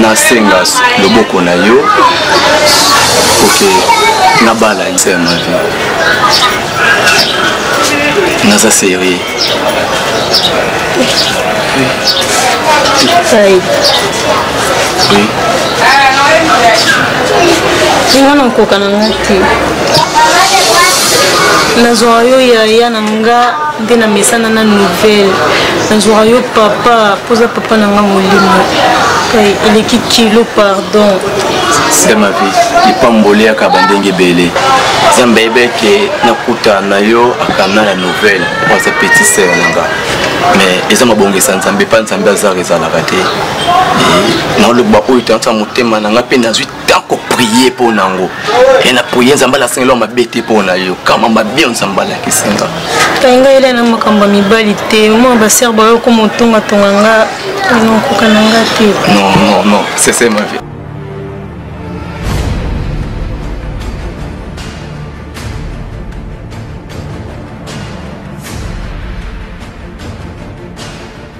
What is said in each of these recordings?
nasenga loboko na yo oke nabala nse ya mavi naza serie nga na nkoka na nga te nazwaka yo yaya na nga nde na mesana na nouvelle nazwaka yo papa mpoza papa na nga molimo eleki kilo pardon sika ma vie lipamboli yaka bandenge ebele nzambe ayebeke nakuta na yo akana ya nouvelle oza petit sere na nga mais eza mabongisa nzambe mpa nzambe azaka ezalaka te naoloba oyo tansa motema na nga mpe nazwi temps koprie mpo na yango e na prie nzambe alasengeli wa mabe te mpo na yo kama mabe yo nzambe alakisi nga ngai ngai ela na makambo ya mibali te mwa baser bayo okoma otongatonga nga nakoka na nga te non non non sese ma vie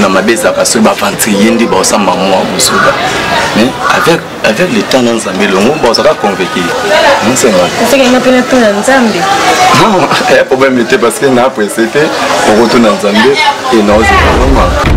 na mabe ezalaka soki baventrie ye nde baosamba mwa mosuka mais avec avec le temps na nzambe elongo bazalaka convaincu nsengaosakanga mpe natuna nzambe ya problème te parce que na presse te okotuna nzambe e naozela mama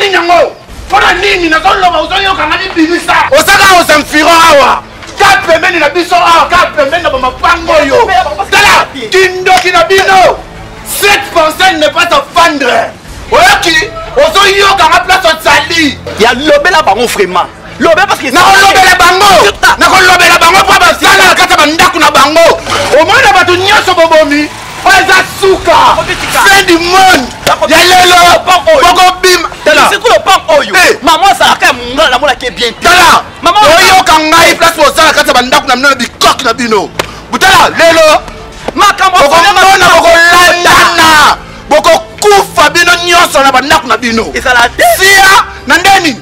nini yango mpona nini nazoloba ozoyokanga bibimisa osaka osamfiro awa ka pembeni na biso awa ka pembeni na bamapango oyo tala kindoki na bino cette pensée ne pas afandre oyoki ozoyokanga place ozali ya lobela bango vraiment nakolobela bango nakolobela bango mpo bazanga na kati ya bandako na bango omona bato nyonso bobomi oyo eza suka fin du monde ya lelo bokobima oyoka ngai place bozala kati ya bandako na bino na bikoki na bino botala lelo bokomona bokolandana bokokufa bino nyonso na bandako na bino sia na ndeni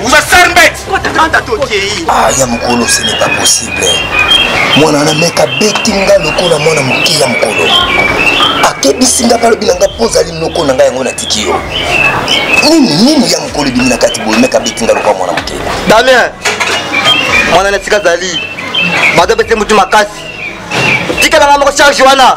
Vous êtes sale bête Kotanda tokeyi Ah ya mokolo ce n'est pas possible mwana wana meka beti nga lokola mwana moke ya mokolo akebisi nga balobi na nga mpo ozali noko na ngai yango natiki yo nini nini ya mokolo ebimi na kati boye meka beti nga lokola mwana moke damien mwana na esika azali bato bete motu makasi tikala nga moko charge wana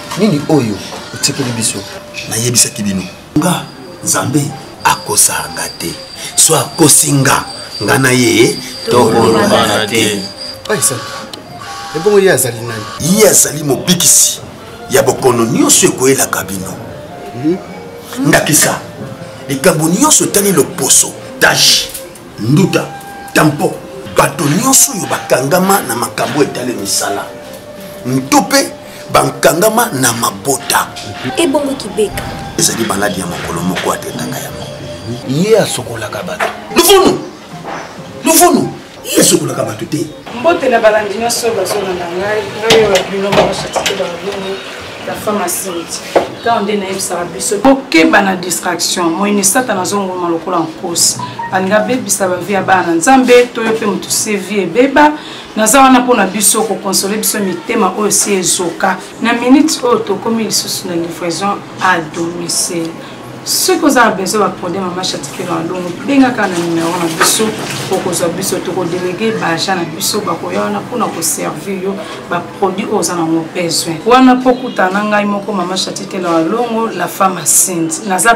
nini oyo otikeli biso nayebisaki bino nga nzambe akosaka nga te so akosi nga nga na ye tokolobana te ebongo ye azali nani ye azali mobikisi ya bokono nyonso ekoyelaka bino mhm. ndakisa likambo nyonso etali loposo tache nduta tampo bato nyonso oyo bakangama na makambo etali misala nto mpe bankangama na mabota ebongo kibeka ezali maladi ya mokolo moko atendaka yango ye asokolaka bato luvunu luvunu ye asokolaka bato te mbote na balandi nyonso bazolanda ngai ngai oyo bino bakosatike balungu la femme asimiti ntango nde nayebisaka biso kokeba na distraction moyini satana azongoma lokola nkosi alinga abebisa bavi ya bana nzambe toyo mpe moto sevi ebeba naza wana mpo na biso kokonsole biso mitema oyo si ezoka na minute oyo tokomi lisusu na livraison à domicile soki oza na besoin baprode mama chatikelo ya longo bengaka na numero na biso okozwa biso tokodelege baagent na biso bakoya wana mpona koservir yo baproduit oyo oza nango besoin wana mpo kutana ngai moko mama chatikelo ya longo la femme asinte naza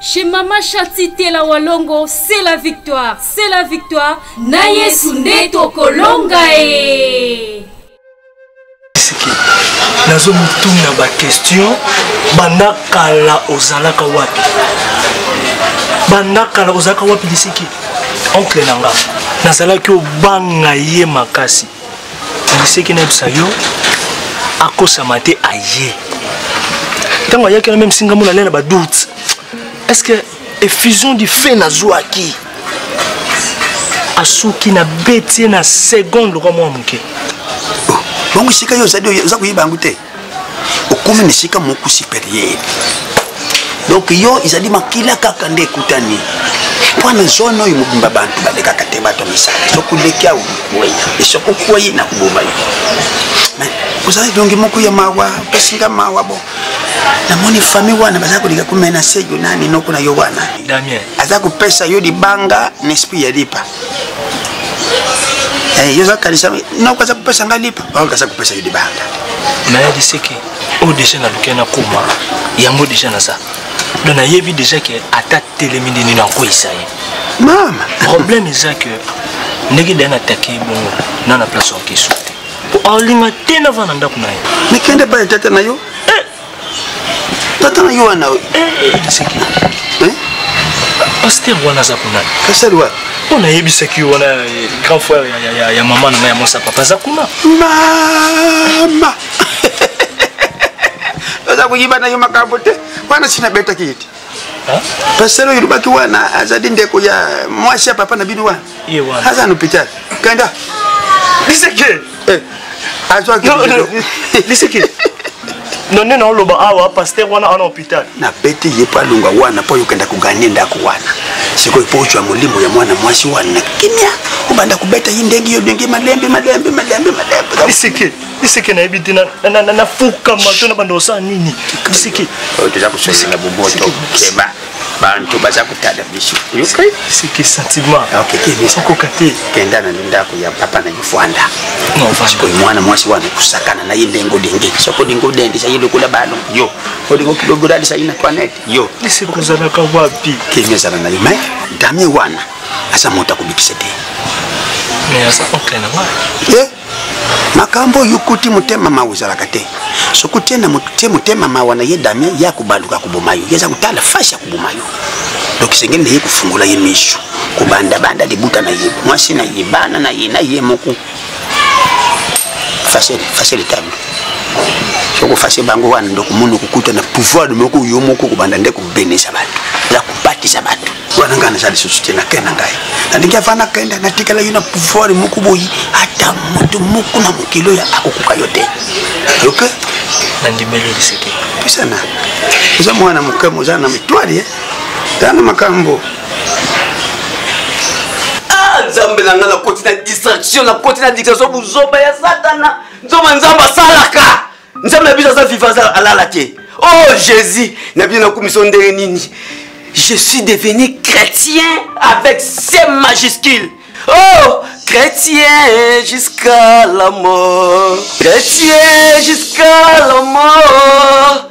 Chez Mama Shati Tela Walongo, c'est la victoire, c'est la victoire. Na Yesu nde tokolonga e. nazo motuna bakestion banda kala ozalaka wapi banda kala ozalaka wapi lisiki oncle na nga nazalaki obanga ye makasi liseki nayebisa yo akosama te aye ntango ayaki na meme singa mona lela badoute est ce que effusion du fe nazwaki asuki na beti ye na seconde lokwa mwa moke bango esika yo oza koyeba yango te okomi na esika moko superieur donc yo ezali makila kaka nde ekutani mpo na zone oyo mobimba bantu balekaka te bato misala soki oleki awo boye esoki okwei na koboma yo mais ozali dongi moko ya mawa opesinga mawa bo namoni famille wana baza kolinga komenase yo nani noko na yo wana aza kopesa yo libanga na esprit ya lipa eh, yo oza kanisa nakokaza kopesa ngai lipa akokaza kopesa yo libanda nayebi seke oyo deja nalukeli nakoma yango deja naza donc nayebi deja ke ata telemi nde nini akweyisa ye mama problème eza ke ndenge daya natake ye bongo na na place orkestre te po alinga te navanda ndako na ye mikende bale tata na yo tata na yo wana taseki eh, eh. paster wana aza kuna kasali wana mpo nayebisaki yo wana eh, grand frère ya mama na ngai ya mwasi ya papa aza kuna mama oza koyibana yo makambo te wana sinabetaki ete pasteur oyo olobaki wana azali ndeko ya mwasi ya papa na bino wana aza na hôpital kanda liseke eh, azwaki liseke nonde naoloba awa paster wana ana hôpital nabeti ye mpo alonga wana mpo yokenda koganye ndako wana sikoyo mpo ozwa molimo ya mwana mwasi wana na kimia obanda kobeta ye ndenge yo ndenge malembe malembe malembe malembe biseke nayebi te nafukama to na banda osala nini biseke toza kosolela boboto keba bantu baza kotala biso seke sentiment okoka te kenda na ndako ya papa na yofwanda sikoyo mwana mwasi wana kosakana na ye ndenge odenge soko olingi odendisa ye lokola bano yo olingi okilogolalisa ye na toinete yo eseke ozalaka wapi kemi azala na ye mai damie wana aza moto akobikisa te mais aza oncle na ngai makambo oyo okuti motema mawa ozalaka te soki otie na motie motema mawa na ye damien ye akobaluka koboma yo ye aza kotala fasi ya koboma yo donc esengeli na ye kofungola ye misu kobandabanda libuta na ye mwasi na ye bana na ye na ye moko facile facile table soko fase bango wana ndokomona okukuta na pouvoir moko yo moko kobanda nde kobenisa bato eza kobatisa bato wana ngai naza lisusu te nakei na ngai nalingi ava nakenda natikalaki na pouvoir moko boyi ata moto moko na mokili oyo akokoka yo te oyoke nandimeli liseke pisana oza mwana moke moza na mitwali eh? eza na makambo ah, nzambe na ngai nakoti na distraction nakoti na distraction buzoba ya satana nzoba nzambe asalaka nzambe na biso aza viva aza alala te o oh, jésus na bino nakumiso ndenge nini je suis devenu chrétien avec c majuscule oh chrétien jusqu'à la mort chrétien jusqu'à la mort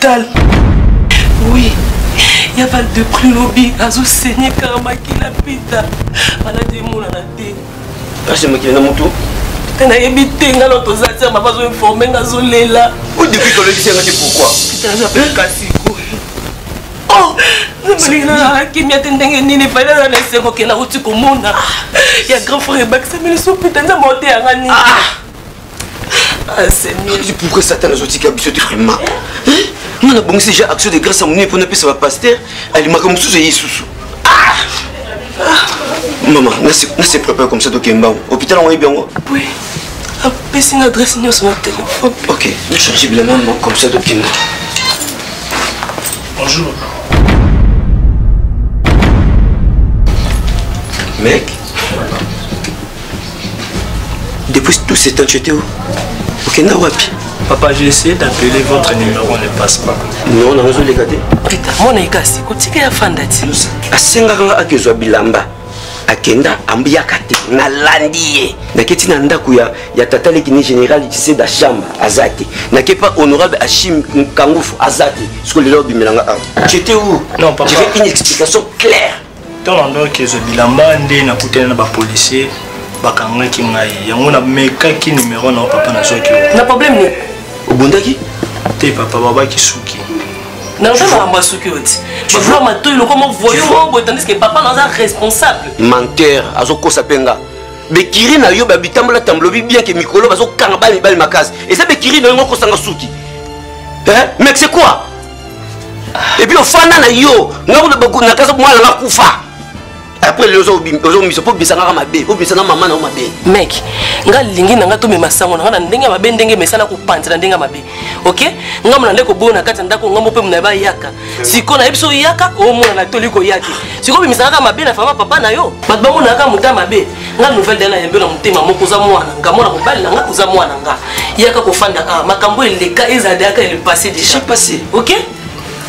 Tal. Oui. ya val de prix lobi azosenye kaka makila pita maladi emonana te kasi mokili na motu te nayebi te nga no toza tia mama azoinforme nga azolela o depuis tolekisi yanga te pourquoi kasi oh, kimia te ndenge nini fali aza na esengo kela uti komona ah. ya grand frère ebakisami lisusu pita nzambe ote yanga nini ah. Ah, Seigneur. Je pourrais Satan nous otika biso te vraiment. Hein? Moi na bongisi déjà action de grâce à mon pour na pesa ba pasteur, ali makambo susu Yesus. Ah! Maman, na se na se prépare comme ça donc mbao. Hôpital on est bien. Oui. Apesi na adresse nyonso na téléphone. OK, je change bien maman comme ça donc mbao. Bonjour. Mec Depuis tout ce temps, tu étais où Okenda wapi Papa, j'ai essayé d'appeler votre numéro, ne passe pas. Non, on a reçu les gâtés. Prita, mon ekasi, kotika ya fandati. Asengaka nga akezwa bilamba. akenda ambiyaka te nalandi ye naketi na ndako ya, ya tata lekini général tise da chambre aza te nake pa honorable achim kangufu aza te soko lelo obimelanga awa jete où non, papa. je veux une explication claire ntango nandaki ezwa bilamba nde nakutani na bapolisier bakangaki ngai yango namekaki nimero na papa nazwaki na problème nini obundaki te papa babaki suki naza makambo ya suki oti bavula matoi lokoma voyo moko boye tandis ke papa naza responsable menteur azokosa mpe nga bekiri na yo babitambola tambolobi bien ke mikolo bazokanga bana mibali makasi eza bekiri na yo ngo kosanga suki mais c'est quoi et puis ofanda na yo nakasa mwana nga kufa après lelo ozobimisa mpo obimisa ngaka mabe obimisa na mama na yo mabe mek nga lingi na nga tomema sango na nga na ndenge ya mabe ndenge mesa na kopanza na ndenge ya mabe ok nga mona nde koboyo na kati ya ndako ngambo mpe mona bayaka sikoyo nayebi so oyaka omona na toli koya te sikoyo obimisa ngaka mabe na fama papa na yo bato bamonaka moto ya mabe nga nouvelle dana yambe na motema moko oza mwana nga mwana mobali na nga oza mwana nga yaka kofanda a ah, makambo eleka ezalaka ele passé déjà passé ok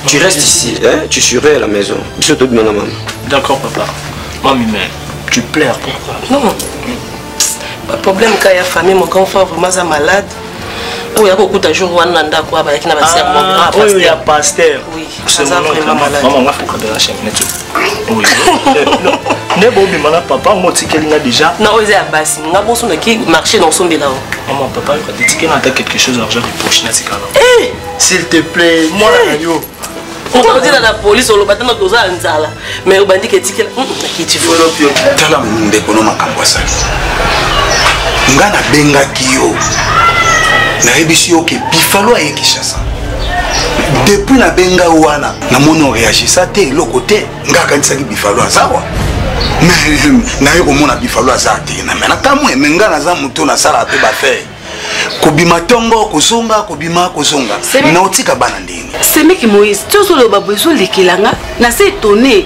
tu restes ici hein? tu serais à la maison biso tobima na mama d'accord papa mami mais tu pleures pourquoi non baproblème ka ya famille mon grand frère vraiment aza malade oyo akokuta jour wana na ndako abayaki na basermoya ah, ah, pasteur aza vraiment malade maman nga fuka de la chaîne net oui ne bo bima na papa ngo tikeli nga déjà na oza ya basi nga bo sona ki marché dans son bilan maman papa yo ka tikeli na ta quelque chose argent de poche na tikala eh s'il te plaît moi na yo okozila na polise oloba tana toza ya nzala mais obandi ke etikela hmm, tala ndeko no makambo asali nga nabengaki yo nayebisi yo ke bifalo aye kinshasa depuis nabenga wana namoni oreagisa te eloko te nga akanisaki bifalo azawa naye komona bifalo aza te na me nakamwe me nga naza moto nasalaka mpe bafere kobima tongo kozonga kobima kozonga na otika bana ndenge semeki moïse tozoloba boye ezolekela nga na se etone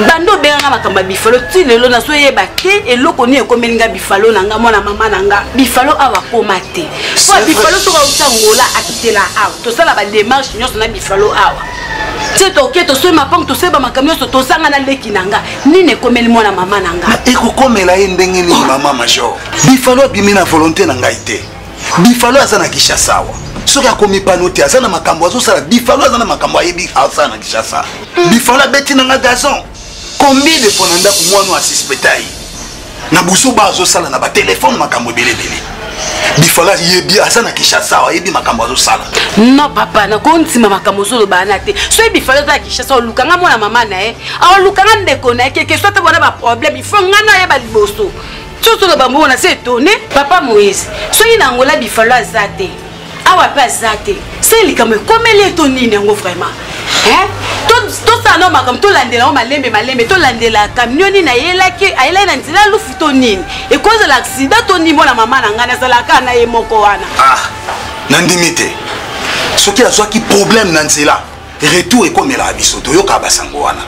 bando obenganga makambo ya bifalo ti lelo nazo yeba te eloko nini ekomeli nga bifalo na nga mwana mama na nga bifalo awa akoma te po bifalo soki auta ngola akitela awa tosala bademarche nyonso na bifalo awa ti toke tosoi mapango tosoi bamakambo nyonso tozanga na leki na nga nini ekomeli mwana mama na nga ekokomela ye ndenge nini mama major bifalo abimi na volonté na ngai te bifalo aza na kinshasa awa soki akomipano te aza na makambo azosala bifalo aza na makambo ayebi asala na kinshasa bifalo abeti na nga gazon combien de fois na ndako mwana asispeta ye na buzoba azosala na batelefone makambo ebeleebele bifalo ayebi aza na kinshasa awa ayebi makambo azosala non papa nakondima makambo ozoloba wana te soki bifalo aza na kinshasa oluka nga mwana mama na ye aoluka nga ndeko na ye keke so te bona baproblème ifo nga nayeba liboso soki oloba mbongo na se etone papa moïse soki na angola bifalo aza te awa mpe aza te se likambo ekomeli eto nini yango vraiment tosala nao makambo tolandela yango malembe malembe tolandela kamioni nayelaki ayelaki na nzela lufu to nini ekozala aksida to nini mona mama na ngai nazalaka na ye moko wana ah, nandimi te soki azwaki problème na nzela retour ekomelaka biso toyokaka basango wana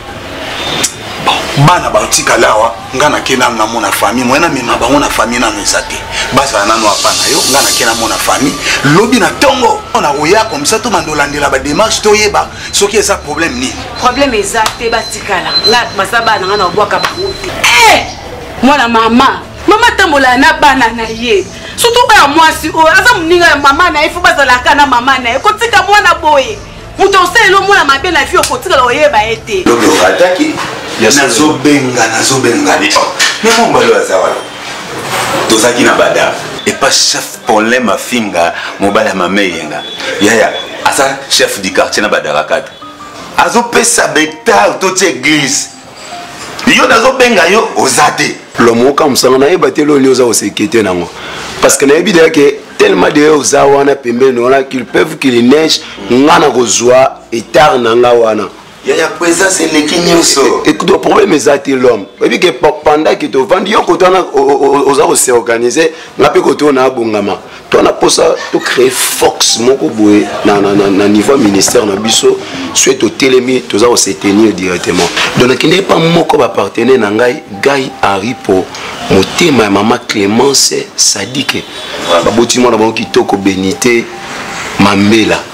bana batikala awa ngai nake nanu namona famille moye namema bango na famille nanu eza te bazala nanu apa na yo ngai nake namona famille lobi na ntongo nakoya komisa to banda olandela bademarche toyeba soki eza problème nini problème eza te batikala ngai masa bana ngai naobwaka bango te eh! mwana mama mama atambolaka na bana na ye surtout oyo ya mwasi oyo aza moninga ya mama na ye fo bazalaka na mama na ye kotika mwana boye moto osalela omona mabe na vi okotikala oyeba ye te ataki nazobenga nazobenga ne oh, me mobali aza wana tozalaki na bada epa chef polem afinga mobali ya mama eyenga yaya aza chef du quartier na badarakata azopesa betard toti eglise yo nazo benga yo oza te lomo okamusanga nayeba te loni oza kosekete nango parce que nayebi deya ke tellement de oza wana pembeni wana qu'il peuvent qu'il neige nga na kozwa etard na nga wana yaya présence eleki nyonso écoute problème eza te l'homme oyebi ke pendant ke tovandi yo koto wana oza koseorganize nga mpe koto na abongama to na posa to créer force moko boye na, na, na, na niveau ya ministère na biso soki totelemi toza ko se tenir directement donc nakende epa moko bapartenaire na ngai gai aripo motema ya mama clémence sadike baboti mwana bango kitoko benite mambela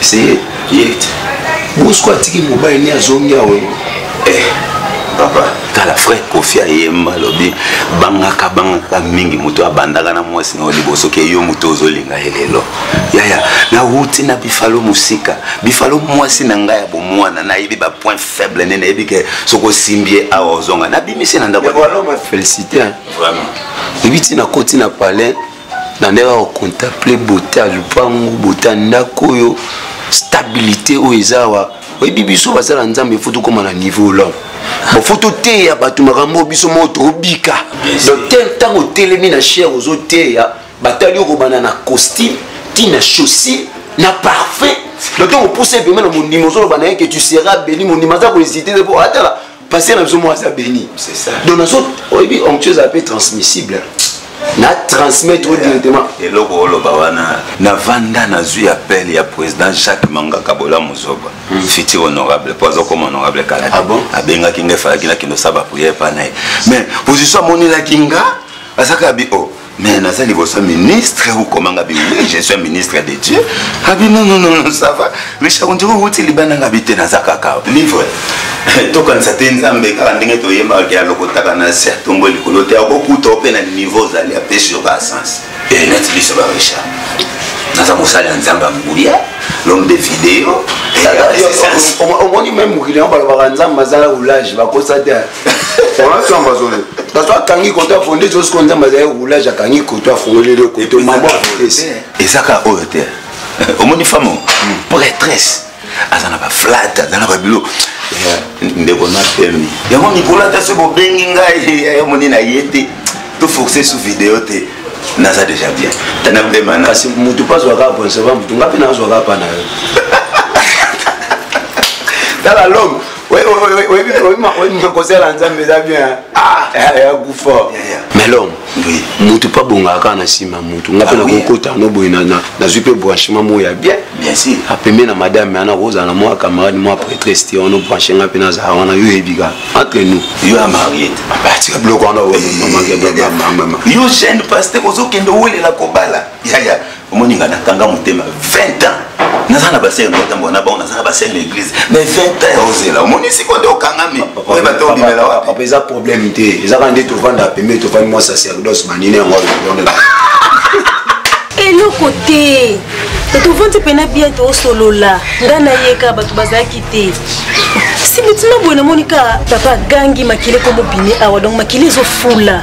c'est direct bosko atiki mobali ni azongi awa eh, papa tala frère kofi ayemba alobi bangaka bangaka mingi moto abandaka na mwasi na yo liboso ke yo moto ozolinga ye lelo yaya nawuti na bifalo mosika bifalo mwasi na ngai ya bomwana nayebi bapoint faible nde nayebi ke soki osimbi ye awa ozonga nabimisi na ndako félicité vraiment ebi ntina koti na palais na ndenge ya kocontemple bote ya lupangu bote ya ndako oyo stabilité oyo eza awa oyebi biso baza na nzambe fo tokóma na niveau lor bofo toteya bato makambo oyo biso moko tobika donc te ntango otelemi na chere ozoteya batali yo kobanda na costume ti na chaussure na parfum donc ntango opusa ebembe na mondimi ozoloba na ye ke tu sera béni mondimi aza kohésite te mpo atala pasteur na biso moko aza béni donc nazo oyebi onctio ezala mpe transmissible na transmettre oyo directement eloko oloba wana navanda nazwi appel ya président jacques mangaka bola mozoba hmm. futur honorable mpo azokoma honorable kala te ah abengaki ngai falaki nakende osala bapriere epa na ye mais position amonelaki nga azaka bi o oh, mais naza liboso ministre okomanga bi oui je suis un ministre de dieu abi ah, non non non non ça va richard ondiri owuti libanda nga bi te naza kaka livre tokanisa te nzambe kaka ndenge toyembaka ke alokotaka na se atongo likolo te akokuta ope na niveau ozali apesi yo ba sens eh, neti biso ba richard naza mosali ya nzambe ya nguya l'homme de video omoni meme mokili yango balobaka nzambe azala oulage bakosa te olasamba zole naso akangi koto afonde josiko nzambe azali roulage akangi koto afongoli le koto mambo afondesi eza kaka oyo te omoni femme hmm. prêtresse aza na baflate aza na babilo eh, ndeko na pemi yango mikolo ata soki bobengi ngai eh, omoni na ye te toforce sous video te naza déjà bien tana bemana kasi motu mpe azwaka aponsa ba motu ngai mpe nazwaka mpa na yo tala lome kozala nzambe eza bien akufa ah, eh, melom mutu mpe abongaka kaka na nsima ya mutu nga mpe ah nakokota no boye nazwi mpe branchement moko ya bien apembe na madame yana kozala na mwa camarade mwa prêtresse te wana obranche nga mpe nazala wana yo oyebi kaka entre nous yo ya mariete atika biloko wana yo jeune paster ozokende owelela kobala yaya omoni nga nakanga motema 20 ans naza na basere natambola na bango naza na basere na église mais 20 ans ozela omoni siko nde okangami oyeba te obimela wapi eza problème te eza kaka nde tovanda pembe tofandi mwa sacerdoce banini yango alobondela eloko te tovandi mpena bien tosolola nga nayeka bato bazalaki te sibitima boye namoni ka papa agangi makili ekomobimi awa donc makili ezofula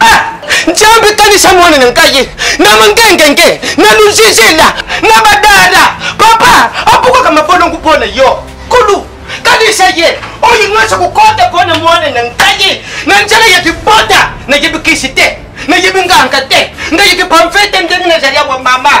ah! nzambe kanisa mwana na ngai na mangengenge na luzizila na badada papa abukaka mabolongo mpo na yo kulu kanisa ye oyo nyonso kokota mpo na mwana na ngai na nzela ya kibota nayebi kisi te nayebi nganga te nayebi pamfe te ndenge nazali awa mama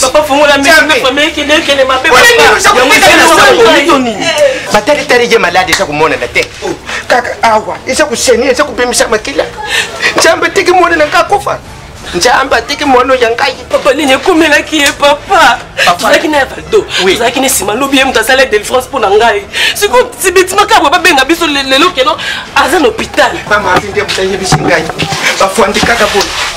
papa fongola mekende mabe batalitali ye malade eza komonana te oh. kaka awa eza koseni eza kobimisa makila nzambe tiki mwana na ngai akofa nzambe atiki mwana ya ngai papa nini ekomelaki ye papa tozalaki na ya valdo tozalaki na nsima lobi ye moto asala delifrance mpo na ngai siko sibitimakaboye babenga biso lelo keno aza na hôpital mama avi nde moto ayebisi ngai bafandi kaka boye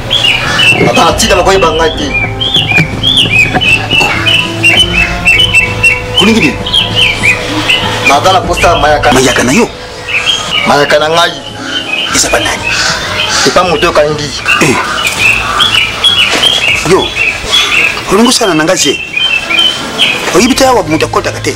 Papa, tika na koyeba ngai te. Kuningi nini? Naza na posa mayaka. Mayaka na yo? Mayaka na ngai. Eza ba nani? Epa moto okangi. Eh. Yo, olongi osala na ngai se? oyebi te awa moto akotaka te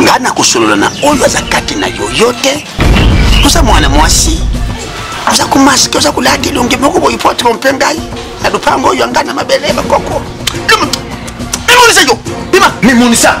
nga nakosolola na oyo aza kati na yo yo te oza mwana mwasi oza komaske oza kolata elongi moko boye po trompe ngai na lopango oyo yanga na mabele bakoko mimonisa yo bima mimonisa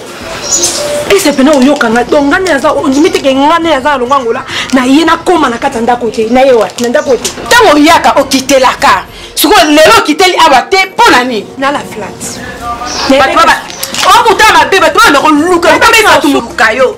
ese pena oyoka nga donc nga nde aza ondimi te ke nga nde aza na longwa ngola na ye nakóma na kati ya ndako te na ye wapi na ndako te ntango oyaka okitelaka sikoyo lelo okiteli awa te mpo na nini na la flate okuta mabe bato bana koluka lukabato moluka yo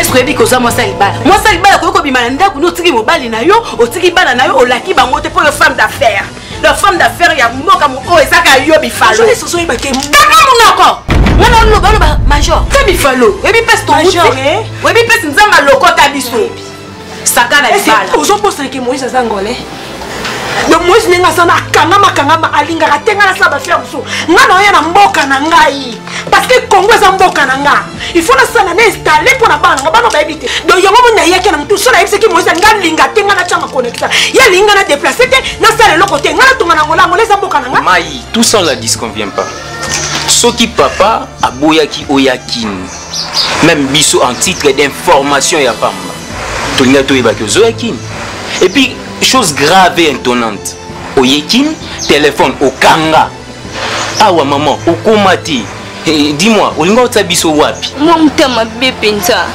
eske oyebi koza mwasi ya libala mwasi ya libala koki kobima na ndako ni otiki mobali na yo otiki bana na yo olaki bango te mpo yo femme d'affaire la femme d'affaire ya mboka oyo ezaka yo bifalosoyebake bana monoko wana oloba oloba major te bifalo oyebi mpesi tomuti oyebi mpesi nzambe alokota biso sakana libala ozobosana ke moïse aza ngole donc moïse ndenge aza na akangama kangama alingaka te ngai nasala bafere mosusu ngai naoya na mboka na ngai parce que congo eza mboka na nga il faut nasala na installe mpo na bana na nga bana bayebi te donc yango moni nayaki na motu so nayebisaki moïse ngai alinga te ngai natyanga connecta ye alingi ngai na déplace te nasala eloko te ngai natonga na ngola ngola eza mboka na nga mai tout ça on la disconvient pas soki papa aboyaki oya kini meme biso en titre d'information ya pamba tolinga toyeba ke ozoya kini et puis chose grave et intonnante oye kini telefone okanga awa mama okoma te hey, eh, dis-moi olinga otya biso wapi mwa motema be mpenza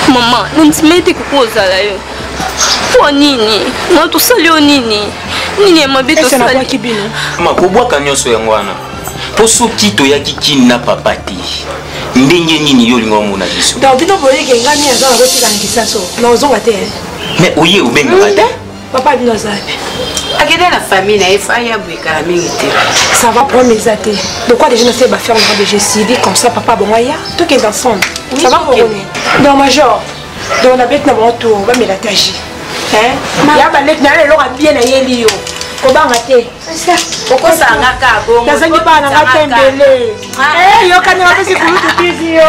mama nandima ete koki ozala yo mpo nini na tosali yo nini nini ya mabe tosali kobwaka nyonso yango wana mpo soki toyaki kini na papa te ndenge nini yo olinga omona biso donc bino boyeke ngai nini aza nakotika na kisaso na ozonga te eh? mais oye obengaka te papa bino aza wapi akende na famille na ye fai aboyekala mingi te ça va problème eza te lokwa déjà nasali baferme na bejecidi comme ça papa bongo aya tokende ensemble ça va kokone donc major donc nabeti na bango tour bamela ta ji ya baleti na yo eloko abie na yeli yo kobanga te okosanga ka bongo nazangi bana nga te mbele yokani bapesi kulutu tizi yo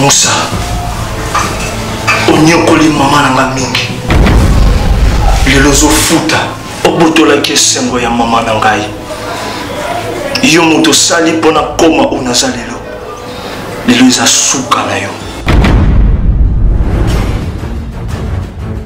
musa onyokoli mama na nga mingi lelo ozofuta obotolaki esengo ya mama na ngai yo moto osali mpo na koma oyo naza lelo lelo eza suka na yo